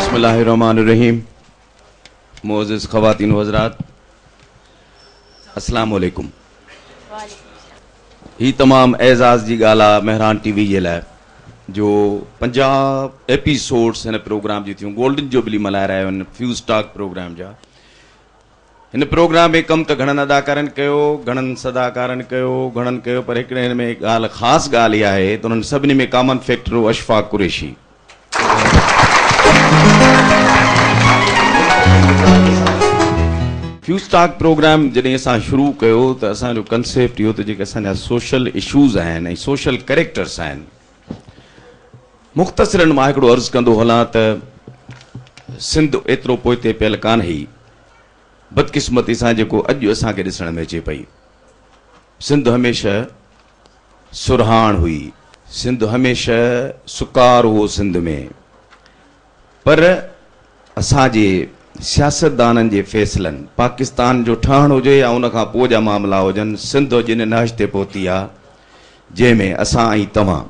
بسم الله الرحمٰن الرحيم معزز خواتين و حضرات اسلام عليڪم هي تمام اعزاز جي ڳالهه آ مهران ٽي وي جي لاء جو 50 ايپيسوڊز هن پروگرام جي ٿيون گولڊن جوبلي ملهائي رهيا آهن فيوز ٽاڪ پروگرام جا هن پروگرام ۾ ڪم ته گهڻن اداڪارن ڪيو، گهڻن صداڪارن ڪيو، گهڻن ڪيو پر هڪڙي هن ۾ ڳالهه خاص ڳالهه اها آهي ته انهن سڀني ۾ ڪامن فيڪٽر هو Ashfaq Qureshi. Views talk programme جڏهن اسان شروع ڪيو ته اسان جو ڪنسيپٽ اهو ته جيڪي اسان جا سوشل اشوز آهن ۽ سوشل ڪريڪٽرس آهن، مختصراً مان هڪڙو عرض ڪندو هلان ته سنڌ ايترو پوئتي پيل ڪانهي. بدقسمتي سان جيڪو اڄ اسان کي ڏسڻ ۾ اچي پئي. سنڌ هميشه سرهاڻ هئي. سنڌ هميشه سڪار هو سنڌ ۾. پر اسان جي سياستدانن جي فيصلن، پاڪستان جو ٺهڻ هجي يا ان کان پوء جا معاملا هجن، سنڌ اڄ ان نهج تي پهتي آهي، جنهن ۾ اسان ۽ توهان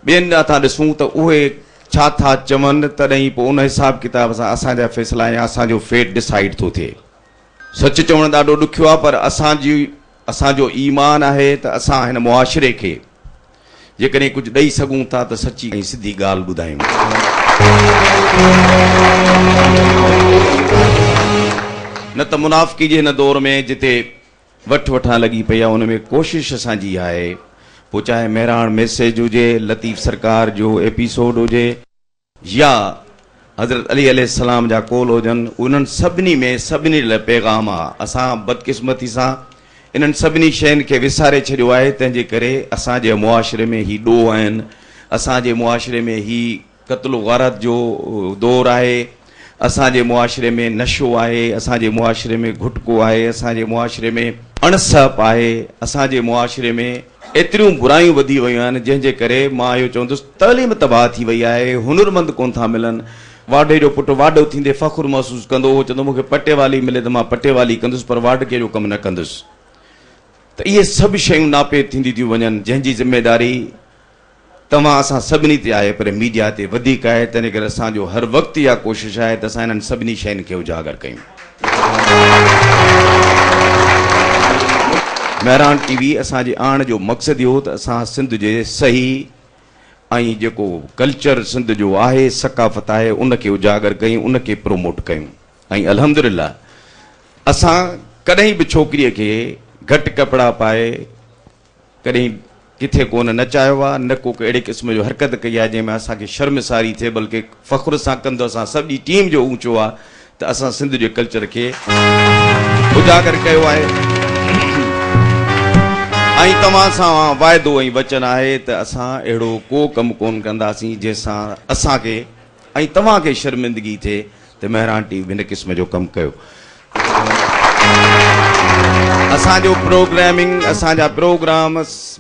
ٻين ڏانهن ٿا ڏسون ته اهي ڇا ٿا چون، تڏهن ئي پوء ان حساب ڪتاب سان اسان جا فيصلا يا اسان جو فيٽ ڊسائيڊ ٿو ٿئي. سچ چوڻ ڏاڍو ڏکيو آهي، پر اسان جي اسان جو ايمان آهي ته اسان هن معاشري کي جيڪڏهن ڪجهه ڏئي سگهون ٿا ته سچي ۽ سڌي ڳالهه ٻڌايون ٿا. نه ته منافقي جي هن دور ۾ جتي وٺ وٺان لڳي پئي آهي ان ۾ ڪوشش اسان جي اها آهي پوء چاهي مهراڻ ميسيج هجي، لطيف سرڪار جو ايپيسوڊ هجي، يا حضرت علي عليه السلام جا قول هجن، انهن سڀني ۾ سڀني لاء پيغام آ. اسان بدقسمتي سان انهن سڀني شين کي وساري ڇڏيو آهي، تنهن جي ڪري اسان جي معاشري ۾ هي ڏوهه آهن، اسان جي معاشري ۾ هي قتل و غارت جو دور آهي، اسان جي معاشري ۾ نشو آهي، اسان جي معاشري ۾ گهٽڪو آهي، اسان جي معاشري ۾ اڻ سهپ آهي، اسان جي معاشري ۾ ايتريون برايون وڌي ويون آهن جنهن جي ڪري مان اهو چوندس تعليم تباهه ٿي وئي آهي هنرمند ڪون ٿا ملن واڍي جو پٽ واڍو ٿيندي فخر محسوس ڪندو هو چوندو مون کي پٽيوالي ملي ته مان پٽيوالي ڪندس پر واڍڪي جو ڪم نه ڪندس ته اهي سڀ شيون ناپيد ٿينديون ٿيون وڃن جنهن جي ذميداري توهان اسان سڀني تي آهي پر ميڊيا تي وڌيڪ آهي تنهن ڪري اسان جو هر وقت اها ڪوشش آهي ته اسان انهن سڀني شين کي اجاگر ڪيون. مهراڻ ٽي وي اسان جي آڻڻ جو مقصد اهو ته اسان سنڌ جي صحيح ۽ جيڪو ڪلچر سنڌ جو آهي ثقافت آهي ان کي اجاگر ڪيون ان کي پروموٽ ڪيون ۽ الحمدلله اسان ڪڏهن به ڇوڪري کي گهٽ ڪپڙا پائي ڪڏهن ڪٿي ڪو نه نچايو آهي، نه ڪو اهڙي قسم جو حرڪت ڪئي آهي جنهن ۾ اسان کي شرمساري ٿئي بلڪه فخر سان ڪنڌ اسان سڄي ٽيم جو اوچو آهي ته اسان سنڌ جي ڪلچر کي اجاگر ڪيو آهي ۽ توهان سان واعدو ۽ وچن آهي ته اسان اهڙو ڪو ڪم ڪون ڪنداسين جنهن سان اسان کي ۽ توهان کي شرمندگي ٿئي ته مهراڻ ٽي وي به هن قسم جو ڪم ڪيو. اسان جو پروگرامنگ، اسان جا پروگرام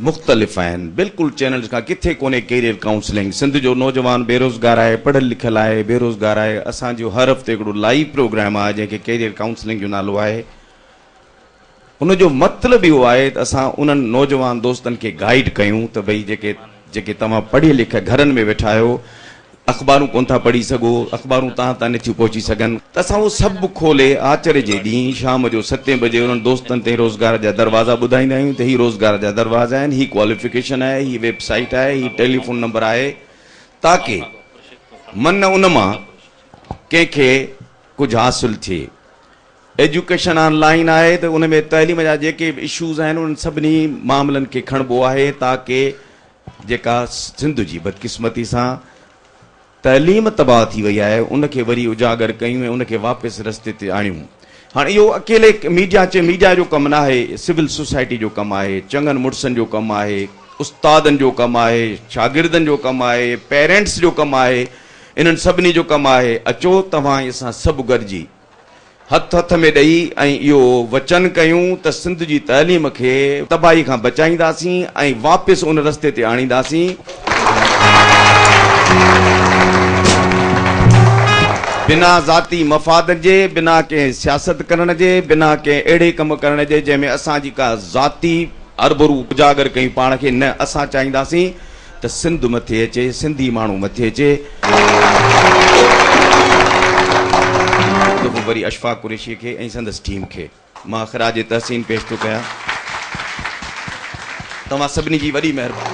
مختلف آهن، بلڪل چينلز کان ڪٿي ڪونهي ڪيريئر ڪائونسلنگ، سنڌ جو نوجوان بيروزگار آهي، پڙهيل لکيل آهي، بيروزگار آهي، اسان جو هر هفتي هڪڙو لائيو پروگرام آهي جنهن کي ڪيريئر ڪائونسلنگ جو نالو آهي. ان جو مطلب اهو آهي ته اسان انهن نوجوان دوستن کي گائيڊ ڪيون ته ڀئي جيڪي جيڪي توهان پڙهي لکي گهرن ۾ ويٺا آهيو اخبارون ڪونه ٿا پڙهي سگهو اخبارون توهان تائين نٿيون پهچي سگهن ته اسان اهو سڀ کولي آچر جي ڏينهن شام جو ستين بجي انهن دوستن تائين روزگار جا دروازا ٻڌائيندا آهيون ته هي روزگار جا دروازا آهن هي ڪواليفڪيشن آهي هي ويب سائيٽ آهي هي ٽيليفون نمبر آهي تاڪه من ان مان ڪنهن کي ڪجهه حاصل ٿئي ايجوڪيشن آن لائين آهي ته ان ۾ تعليم جا جيڪي به اشوز آهن انهن سڀني معاملن کي کڻبو آهي تاڪه جيڪا سنڌ جي بدقسمتي سان تعليم تباهه ٿي وئي آهي ان کي وري اجاگر ڪيون ۽ ان کي واپس رستي تي آڻيون. هاڻ اهو اڪيلي ميڊيا چي ميڊيا جو ڪم ناهي سول سوسائٽي جو ڪم آهي چڱن مڙسن جو ڪم آهي استادن جو ڪم آهي شاگردن جو ڪم آهي پيرينٽس جو ڪم آهي انهن سڀني جو ڪم آهي اچو توهان اسان سڀ گڏجي هٿ هٿ ۾ ڏئي ۽ اهو وچن ڪيون ته سنڌ جي تعليم کي تباهي کان بچائينداسين ۽ واپس ان رستي تي آڻينداسين بنا ذاتي مفاد جي، بنا ڪنهن سياست ڪرڻ جي، بنا ڪنهن اهڙي ڪم ڪرڻ جي جنهن ۾ اسان جي ڪا ذاتي هربرو اجاگر ڪيون پاڻ کي نه اسان چاهينداسين ته سنڌ مٿي اچي، سنڌي ماڻهو مٿي اچي. هڪ دفعو وري اشفاق قريشيء کي ۽ سندس ٽيم کي مان خراج تحسين پيش ٿو ڪيان. توهان سڀني جي وڏي مهرباني.